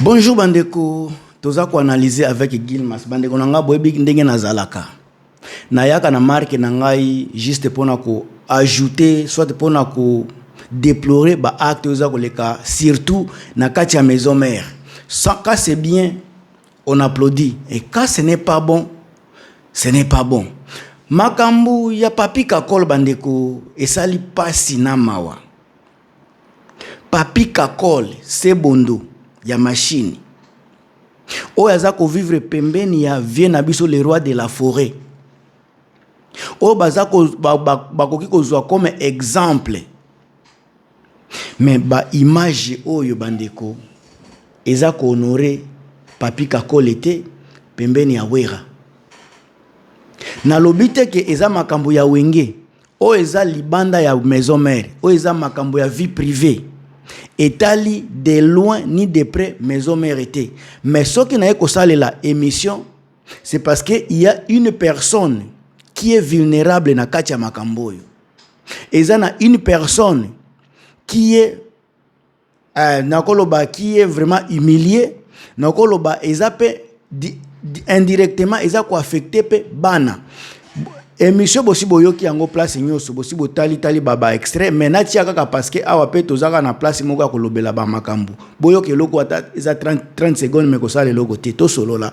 Bonjour bandeko, toza ko analyser avec Gilmas. Bandeko na ngai boyebi ndenge nazalaka. Nayaka na marque na ngai juste pona ko ajouter soit pona ko déplorer ba actes oza koleka surtout na kati ya maison mère. Sans cas c'est bien, on applaudit et quand ce n'est pas bon, ce n'est pas bon. Makambo ya papi kakol bandeko esali pasi na mawa. Papy kakol sebondo ya machine oyo aza ko vivre pembeni ya vieux na biso le roi de la foret oyo baza ko bakoki kozwa comme exemple mais ba image oyo bandeko eza ko honore Papy kakol te pembeni ya wera nalobi te ke eza makambo ya wenge Oyo eza libanda ya maison mère. Oyo eza makambo ya vie privee. Etali de loin ni de près maison mère te. Mais soki naye kosalela emission, c'est parce que il y a une personne qui est vulnérable na kati ya makambo oyo. Eza na une personne qui est Eh, nakoloba qui est vraiment humilié nakoloba eza pe indirectement eza koaffecte pe bana émission bosi boyoki yango place nyonso bosi botali tali baba extrait mais natia kaka parce que awa pe toza kaka na place moko ya kolobela bamakambo boyoka eloko ata eza 30, 30 seconde me kosala eloko te tosolola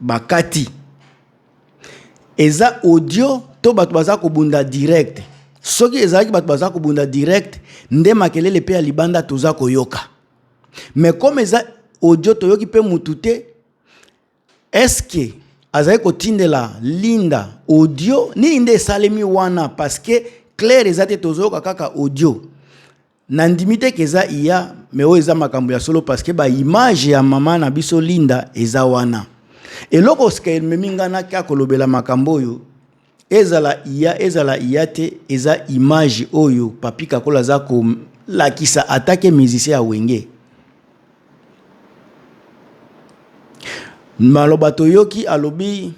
Bakati. Eza audio to bato baza kobunda direct? Soki ezalaki bato baza kobunda direct nde makelele mpe ya libanda toza koyoka. Mais comme eza audio toyoki mpe mutu te, est-ce que azali kotindela Linda audio nini nde esalemi wana parce que claire eza te tozoyoka kaka audio. Nandimi te que eza IA mais oyo eza makambo ya solo parce que ba image ya maman na biso Linda eza wana. Eloko sika ememi nga naka kolobela makambo oyo ezala IA ezala IA te eza image oyo Papy Kakol aza ko lakisa ata ke musicien ya Wenge. Maloba toyoki alobi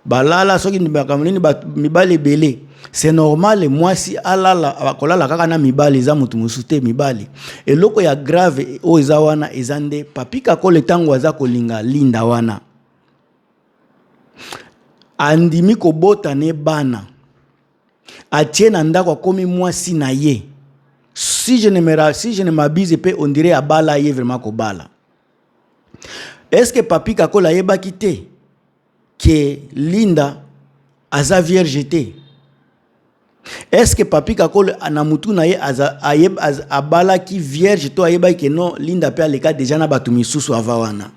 balala soki makambo nini mibali ebele c'est normal mwasi alala akolala kaka na mibali eza moto mosusu te mibali eloko ya grave oyo eza wana eza nde papi kakole ntango aza kolinga linda wana andimi kobota ne bana atie na ndako akomi mwasi na ye si je ne me si je ne m'abuse pe on dirait abala ye vraiment kobala est-ce que papi kakole ayebaki te que Linda aza vierge te est-ce que Papy Kakol na mutu na ye abalaki vierge to ayebaki que non Linda pe aleka déjà na batu misusu ava wana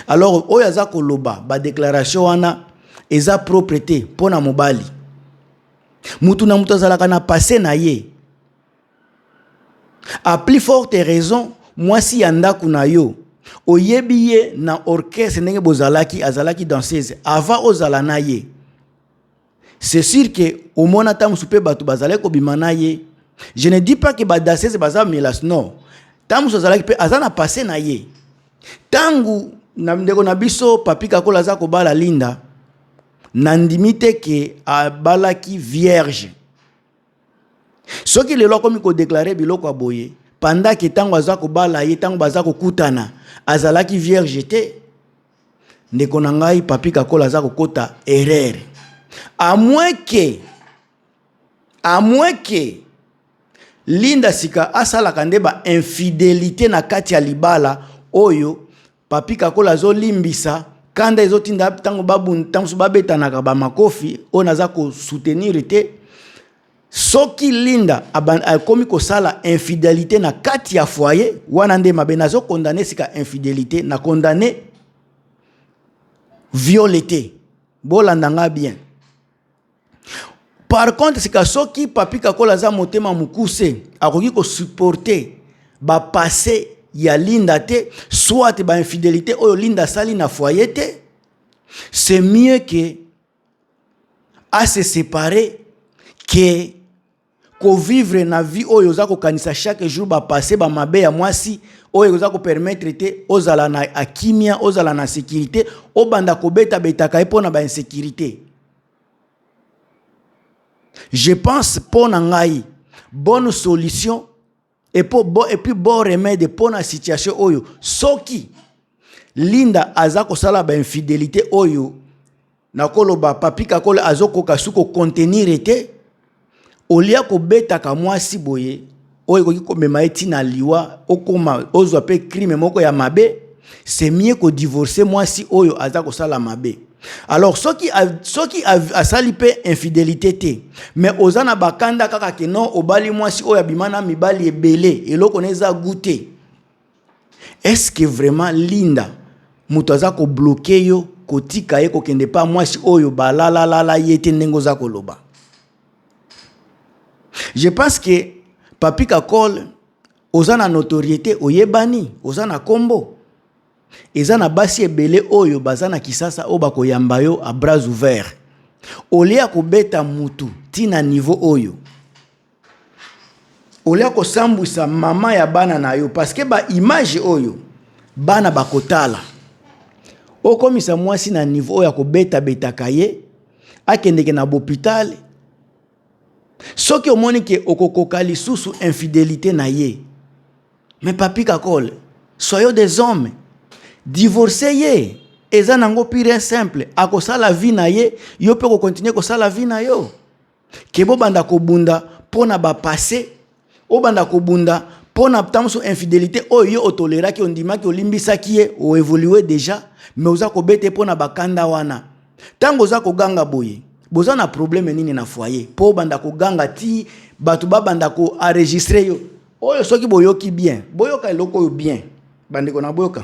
alors oyo aza koloba ba déclaration wana eza propre te mpo na mobali mutu na mutu azalaka na passé na ye A plus forte raison mwasi ya ndaku na yo oyebi ye na orchestre ndenge bozalaki azalaki danseuse avant ozala na ye c'est sûr que omona ntango mosusu mpe bato bazalaki kobima na ye je ne dis pas que badansese baza melas non ntango mosusu azalaki mpe aza na passe na ye ntango na ndeko na biso papi kakola aza kobala linda nandimi te ke abalaki vierge soki lelo akomi kodeklare biloko ya boye pandaki ntango aza kobala ye ntango baza kokutana azalaki vierge te ndeko na ngai papi kakola aza kokota erreur amweke amweke linda sika asalaka nde ba infidelite na kati ya libala oyo Papy Kakola azo limbisa kanda ezo tinda tango babu tango babetanaka ba makofi oyo naza ko soutenir te soki Linda akomi kosala infidelité na kati ya foyer wana nde mabe nazo condamner sika infidelité na condamner viole te bolanda nga bien par contre sika soki papi kakola aza motema mokuse akoki kosupporte bapasse ya linda te soit bainfidelité oyo linda asali na foye te c'est mieux ke ase séparer ke ko vivre na vie oyo oza kokanisa chaque jour ba passe ba mabe ya mwasi oyo oza ko permettre te ozala na akimia ozala na sécurité obanda kobeta betaka ye mpo na ba insécurité je pense mpo na ngai bonne solution Et pour bon, et puis bon remède pour la situation oyo, soki Linda aza kosala ba infidélité oyo, nakoloba papi kakole azokoka su ko contenir ete, olia kobetaka mwasi boye oyo ekoki komema ye ntina liwa, okoma ozwa mpe crime moko ya mabe. c'est mieux ko divorcer mwasi oyo aza kosala mabe alors soki soki asali mpe infidélité te mais oza na bakanda kaka ke non obali mwasi oyo abima na mibali ebele eloko na eza goût te est ce que vraiment linda moto aza kobloke yo kotika ye kokende mpa mwasi oyo balalalala ye te ndenge oza koloba je pense que papi kakole Oza na notoriete, oyebani, oza na kombo. Eza na basi ebele oyo baza na Kisasa oyo bakoyamba yo a bras ouvert. Olia kobeta mutu ti na niveau oyo. Olia kosambwisa mama ya bana na yo parce que ba image oyo bana bakotala. Okomisa mwasi na niveau oyo akobeta betaka ye akendeke na bopital Soki omoni ke okokoka lisusu infidelite na ye mais papy kakol soyons des hommes divorce ye eza nango pure et simple akosala vie na ye yo pe oko continuer kosala vie na yo ke bobanda kobunda pona ba passe Obanda kobunda pona tanso infidelite oyo yo otoleraki ondimaki olimbisaki ye o evolue deja mais oza kobete pona bakanda wana tango oza koganga boye boza na probleme nini na foyer po obanda koganga ti bato babanda ko enregistre yo oyo soki boyoki bien boyoka eloko oyo bien bandeko na boyoka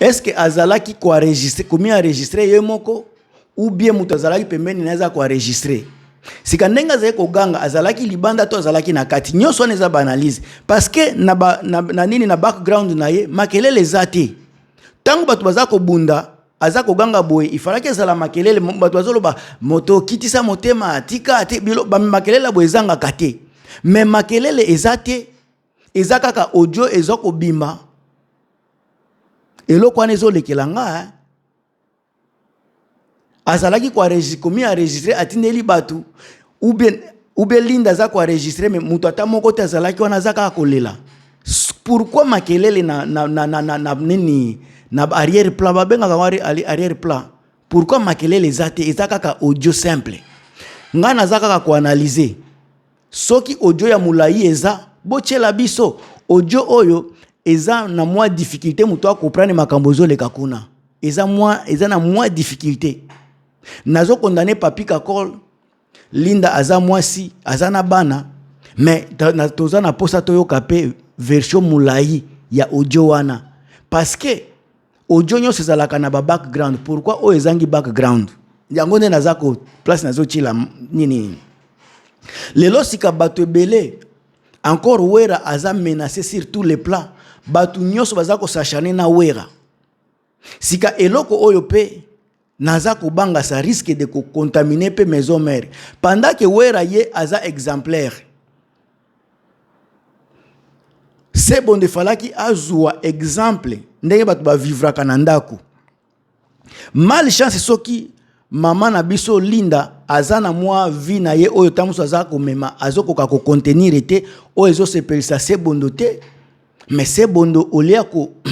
est ce que azalaki ko enregistre komi enregistre ye moko ou bien moto azalaki pembeni na ye aza ko enregistre sika ndenge azali koganga azalaki libanda to azalaki na kati nyonso wana eza baanalyse parce que na, ba, na, na nini na background na ye makelele eza te ntango bato baza kobunda aza koganga boye ifalaki ezala makelele bato bazoloba moto okitisa motema tika te bilo makelele ya boye ezangaka te me makelele eza te eza kaka audio eza kobima eloko wana ezolekela nga eh? azalaki komi enregistre atindeli bato ubien ubien linda aza koenregistre me moto ata moko te azalaki wana aza kaka kolela pourkui makelele na, na, na, na, na, na nini na arrière plat babengaka ngo arrière plat pourkui makelele eza te eza kaka audio simple ngai naza kaka koanalyse Soki audio ya mulayi eza botiela biso audio oyo eza na mwa difficulte moto a comprendre makambo ezoleka kuna eza mwa eza na mwa difficulte nazo condamne papi kakol linda aza mwasi aza na bana mais toza na posa toyoka pe version mulayi ya audio wana parce que audio nyonso ezalaka na ba background pourquoi oyo ezangi background yango nde naza ko place nazotyela nini lelo sika bato ebele encore wera aza menace sur tous les plans bato nyonso baza kosachane na wera sika eloko oyo mpe Naza kobanga ça risque de ko contaminer pe maison mère pendant que Wera ye aza exemplaire. Sebo nde falaki azua exemple ndenge bato ba vivraka na ndako. Mal chance soki mama na biso Linda aza na mwa vie na ye oyo ntango mosusu aza komema azokoka kocontenire te oyo ezosepelisa se bondo te Mais c'est bondo au lieu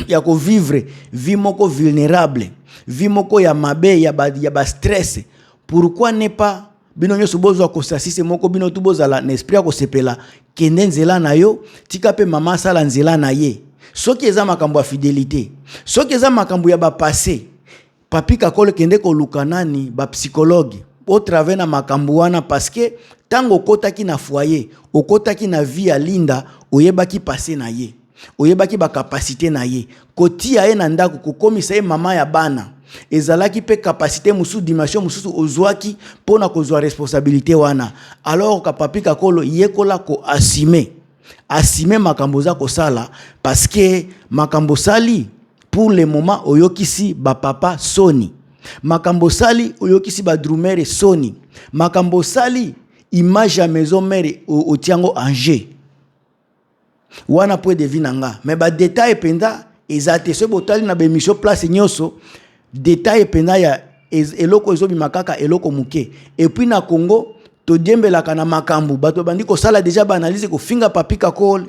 ya ko vivre vie moko vulnerable, vie moko ya mabe ya ba ya ba stress, pourquoi ne pas bino nyonso bozwa kosasise moko bino tu bozala na esprit ya kosepela kende nzela na yo tika mpe mama asala nzela na ye soki eza makambo ya fidelité soki eza makambo ya bapasse Papi Kakol kende koluka nani ba psychologue au travers na makambo wana parce que tango okotaki na foyer, okotaki na vie ya Linda, oyebaki passé na ye. Oyebaki ba capacité na ye. Kotia ye na ndako, kokomisa ye mama ya bana. Ezalaki pe capacité mosusu, dimension mosusu ozuaki pona kozua responsabilité wana. Alors ka papi kakolo yekola ko assumer. assumer makambo oza kosala parce que makambo osali pour le moment oyokisi ba papa soni makambo osali oyokisi ba drumere soni makambo osali image ya maison mère otia yango en jeu wana po edevi na nga mais badetail mpenza eza te soki botali na baemission place nyonso Detail penza ya eloko ezo bima kaka eloko muke. Et puis na Congo to diembelaka na makambu bato babandi kosala deja ba analyse kofinga Papi Kakol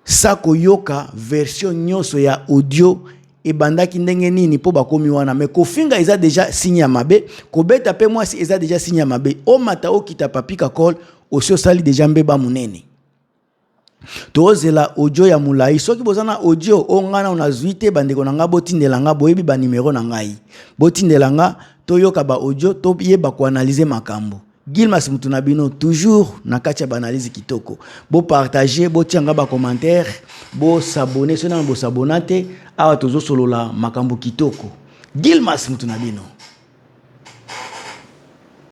sa koyoka version nyonso ya audio ebandaki ndenge nini mpo bakomi wana me kofinga eza deja signe ya mabe kobeta mpe mwasi eza deja signe ya mabe omata okita papika col osi osali deja mbeba monene tozela audio ya molai soki boza na audio oyo ngai nao nazwi te bandeko na ngai botindela ngai boyebi banimero na ngai botindela ngai toyoka baaudio toyeba koanalyze makambo gilmas motu na bino toujours na kati ya baanalyse kitoko bopartage botia ngai bacommentaire bosabone soki nano bosabona te awa tozosolola makambo kitoko gilmas motu na bino